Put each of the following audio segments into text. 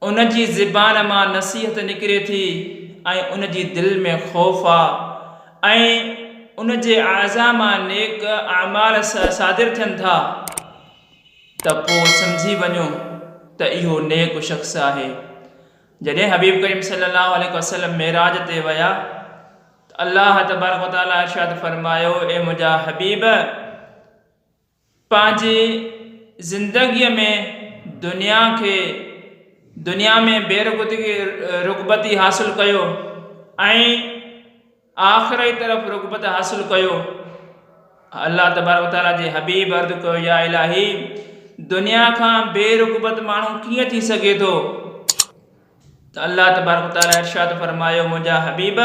ان جي زبان مان نصيحت نڪري ٿي ۽ ان جي دل ۾ خوف آ ۽ ان جي اعضا مان نيڪ اعمال صادر ٿين ٿا ته پوء سمجهي وڃو ته اهو نيڪ شخص آهي. جڏهن حبيب ڪريم صلي الله عليه وسلم معراج تي ويا ته الله تبارڪ وتعاليٰ ارشاد فرمايو اي منهنجا حبيب! پنهنجي زندگيء ۾ دنيا کي دنيا ۾ بي رغبتي حاصل ڪيو ۽ آخرت طرف رغبت حاصل ڪيو الله تبارڪ و تعالٰي جي حبيب عرض ڪيو يا الاهي دنيا کان بي رغبت ماڻهو ڪيئن ٿي سگهي ٿو ته الله تبارڪ و تعالٰي ارشاد فرمايو منهنجا حبيب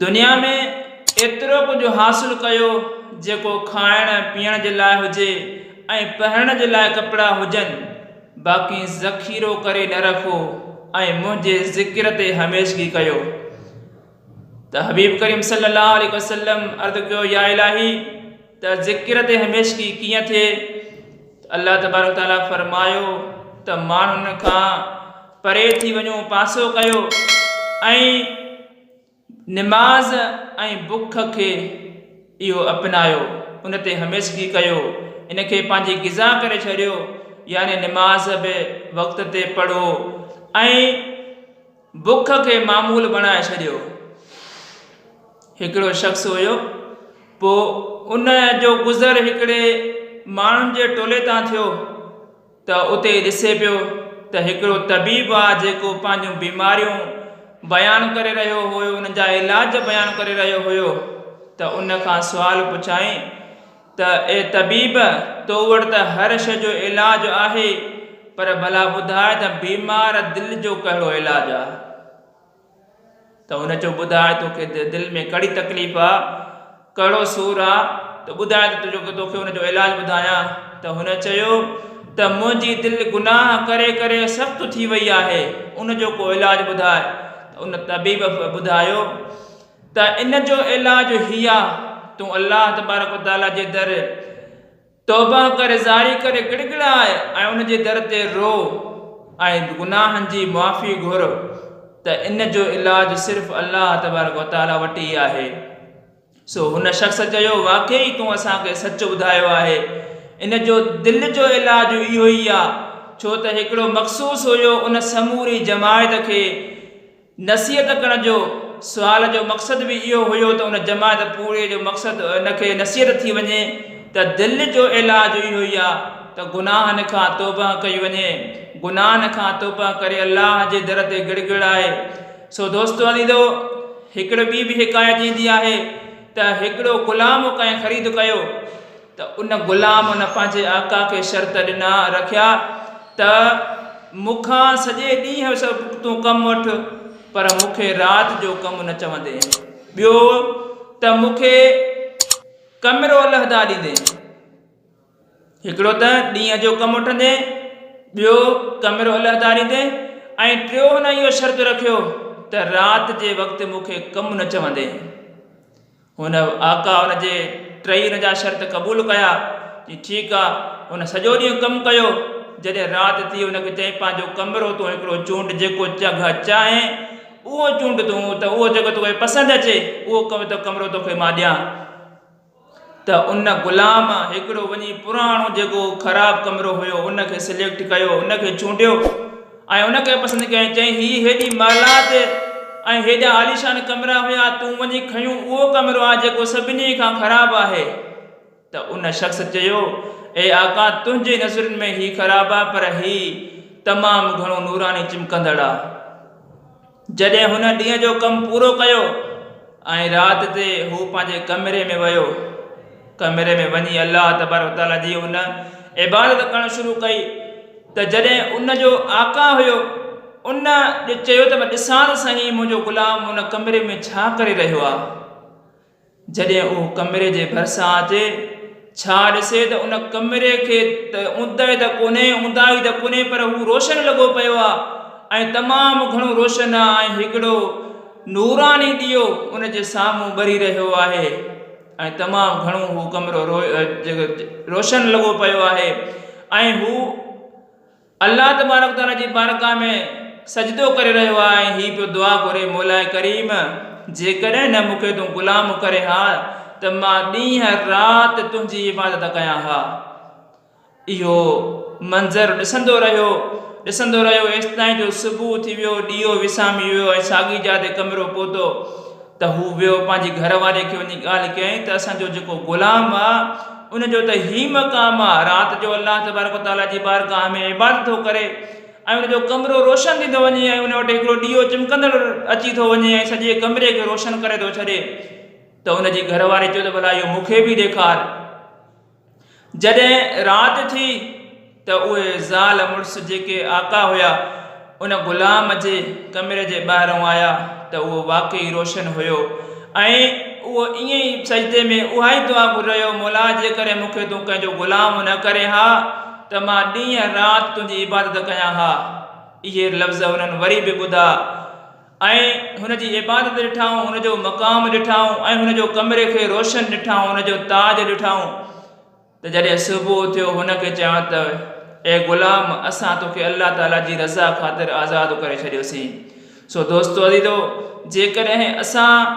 دنيا ۾ ايترو ڪجهه حاصل ڪيو جيڪو کائڻ پيئڻ جي لاء هجي ۽ پهرڻ جي لاء ڪپڙا هجن باقي ذخيرو ڪري نه رکو ۽ منهنجي ذڪر تي هميشگي ڪيو ته حبيب ڪريم صلي الله عليه وسلم عرض ڪيو يا الاهي ته ذڪر تي هميشگي ڪيئن ٿئي ته الله تبارڪ تعالي فرمايو ته ماڻهن کان پري ٿي وڃو پاسو ڪيو ۽ نماز ۽ بک کي اهو اپنايو، ان تي هميشگي ڪيو، ان کي پنهنجي غذا ڪري ڇڏيو، يعني نماز به وقت تي پڙهو ۽ بک کي معمول بڻائي ڇڏيو. هڪڙو شخص هيو، پوء ان جو گذر هڪڙي ماڻهن جي ٽولي تان ٿيو. ته اتي ڏسي پيو ته هڪڙو طبيب آ جيڪو پنهنجون بيماريون بيان ڪري رهيو هيو انهن جا علاج بيان ڪري رهيو هيو ته ان کان سوال پڇيائين ته اي طبيب تو وٽ ته هر شي جو علاج آهي پر ڀلا ٻڌاء ته بيمار دل جو ڪهڙو علاج آ؟ ته هن چيو ٻڌاء توکي دل ۾ ڪهڙي تڪليف آ ڪهڙو سور آ ته ٻڌاء ته جو توکي ان جو علاج ٻڌايان ته هن چيو ته منهنجي دل گناهه ڪري ڪري سخت ٿي وئي آهي ان جو ڪو علاج ٻڌاء ته ان طبيب ٻڌايو ته ان جو علاج هي آ تون الله تبارڪ و تعاليٰ جي در توبه ڪر زاري ڪر گڙگڙاء ۽ ان جي در تي رو ۽ گناهن جي معافي گهر ته ان جو علاج صرف الله تبارڪ و تعالي وٽ ئي آهي سو هن شخص چيو واقعي تون اسان کي سچ ٻڌايو آهي ان جو دل جو علاج اهو ئي آ ڇو ته هڪڙو مخصوص هيو ان سموري جماعت کي نصيحت ڪرڻ جو سوال جو مقصد به اهو هيو ته ان جماعت پوري جو مقصد ان کي نصيحت ٿي وڃي ته دل جو علاج اهو ئي آهي ته گناهن کان توبهه ڪئي وڃي گناهن کان توبهه ڪري الله جي در تي گڙ گڙائي سو دوستو عزيزو هڪڙي ٻي به حڪايت ايندي آهي ته هڪڙو غلام ڪنهن خريد ڪيو ته ان غلام ان پنهنجي آقا کي شرط ڏنا، رکيا، ته مون کان سڄي ڏينهن جو تون ڪم وٺ، پر مون کي رات جو ڪم نه چوندين. ٻيو ته مون کي ڪمرو علحده ڏيندين. هڪڙو ته ڏينهن جو ڪم وٺندين، ٻيو ڪمرو علحده ڏيندين ۽ ٽيون هن اهو شرط رکيو ته رات جي وقت مون کي ڪم نه چوندين. هن آقا ان جي ٽئي ان جا شرط قبول ڪيا. چيائين ٺيڪ آ. هن سڄو ڏينهن ڪم ڪيو. جڏهن رات ٿي هن کي چيائين پنهنجو ڪمرو تون هڪڙو چونڊ جيڪو جگهه چاهين اهو چونڊ تون ته اهو جيڪو توکي پسند اچي اهو ڪمرو توکي مان ڏيان. ته ان غلام هڪڙو وڃي پراڻو جيڪو خراب ڪمرو هيو ان کي سليڪٽ ڪيو ان کي چونڊيو. ۽ ان کي پسند ڪيائين. چيائين، هي هيڏي محلات ۽ هيڏا عاليشان ڪمرا هيا، تون وڃي کنيون اهو ڪمرو آ، جيڪو سڀني کان خراب آهي. ته ان شخص چيو، اي آقا! تنهنجي نظرن ۾ هي خراب آ، پر هي تمام گهڻو نوراني چمڪندڙ آ. جڏهن هن ڏينهن جو ڪم پورو ڪيو ۽ رات تي هو پنهنجي ڪمري ۾ ويو. ڪمري ۾ وڃي الله تبارڪ وتعاليٰ جي هن عبادت ڪرڻ شروع ڪئي ته جڏهن ان جو آقا هيو ان چيو ته ڏسان ته سهي منهنجو غلام ان ڪمري ۾ ڇا ڪري رهيو آهي؟ جڏهن هو ڪمري جي ڀرسان اچي ڇا ڏسي ته ان ڪمري کي ته اونداهي ته ڪونهي اونداهي ته ڪونهي پر هو روشن لڳو پيو آهي ۽ تمام گهڻو روشن آهي ۽ هڪڙو نوراني ڏيئو ان جي سامهون ٻري رهيو آهي ۽ تمام گهڻو هو ڪمرو روشن لڳو پيو آهي ۽ هو الله تبارڪ و تعالي جي بارگاھ ۾ سجدو ڪري رهيو آهي ۽ هي پيو دعا گهري مولاء ڪريم! جيڪڏهن نه مون کي تون غلام ڪرين ها ته مان ڏينهن رات تنهنجي عبادت ڪيان ها. اهو منظر ڏسندو رهيو، ڏسندو رهيو ايستائين جو صبح ٿي ويو، ڏيئو وسامي ويو ۽ ساڳي جاء تي ڪمرو پهتو. ته هو ويو پنهنجي گهر واري کي وڃي ڳالهه ڪيائين ته اسان جو جيڪو غلام آ ان جو ته هي مقام آ رات جو الله تبارڪ و تعالي جي بارگاهه ۾ عبادت ٿو ڪري ۽ ان جو ڪمرو روشن ٿيندو وڃي ۽ ان وٽ هڪڙو ڏيئو چمڪندڙ اچي ٿو وڃي ۽ سڄي ڪمري کي روشن ڪري ٿو ڇڏي ته ان جي گهر واري چيو ته ڀلا اهو مون کي به ڏيکار. جڏهن رات ٿي ته اهي زال مڙس جيڪي آقا هيا ان غلام جي ڪمري جي ٻاهرئون آيا ته اهو واقعي روشن هيو ۽ اهو ائين ئي سجدي ۾ اهائي دعا گهر رهيو مولا جيڪڏهن مون کي تون ڪنهن جو غلام نه ڪرين ها ته مان ڏينهن رات تنهنجي عبادت ڪيان ها اهي لفظ هنن وري به ٻڌا ۽ هن جي عبادت ڏٺائون، هن جو مقام ڏٺائون، ۽ هن جو ڪمري کي روشن ڏٺائون، هن جو تاج ڏٺائون، ته جڏهن صبح ٿيو هن کي چيائون ته، اي غلام! اسان توکي الله تعالي جي رضا خاطر آزاد ڪري ڇڏيوسين. سو دوستو عزيزو! جيڪڏهن اسان